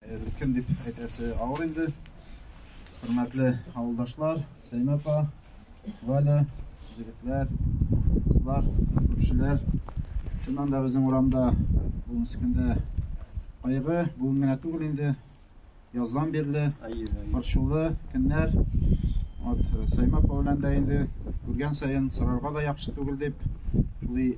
Өлкән дип әйтәсе авыр инде. Хөрмәтле авылдашлар, Сәймәпа, Валя, җегетләр, кызлар, күршеләр. Чыннан да безнең урамда бүгенге көндә кайгы, бүген генә түгел инде. Яздан бирле борчулы көннәр. Вот Сәймәпа белән дә инде күргән саен сорарга да яхшы түгел дип, шулай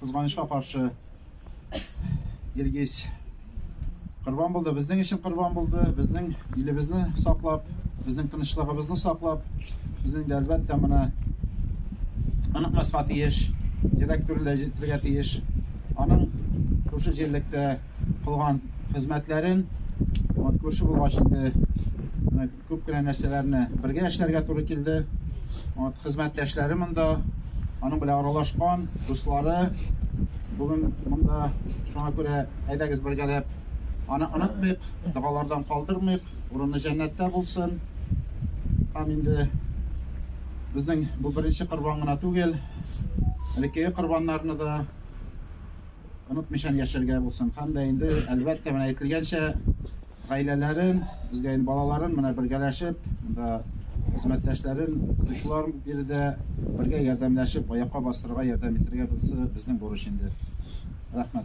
Кызганычка каршы, Илгиз корбан булды. Безнең өчен корбан булды. Безнең илебезне саклап, безнең тынычлыгыбызны саклап, безнең дә әлбәттә менә онытмаска тиеш, йөрәк түрендә җитәргә тиеш. Аның шушы җирлектә кылган хезмәтләрен, вот күрше булгач инде Күп кенә нәрсәләрне бергә эшләргә туры килде. Вот, хезмәттәшләре монда, аның белән аралашкан, дуслары бүген монда. Шуңа күрә әйдәгез бергәләп аны онытмыйк, догалардан калдырмыйк, урыны җәннәттә булсын. Һәм инде безнең бу беренче корбан гына түгел, элеккеге корбаннарны да онытмыйчан яшәргә булсын. Һәм дә инде, әлбәттә, менә әйтелгәнчә, Гаиләләрен, безгә инде балаларын менә бергәләшеп, монда хезмәттәшләрен, укытучылар биредә бергә ярдәмләшеп, аякка бастырырга, ярдәм итәргә, монысы безнең бурыч инде. Рәхмәт.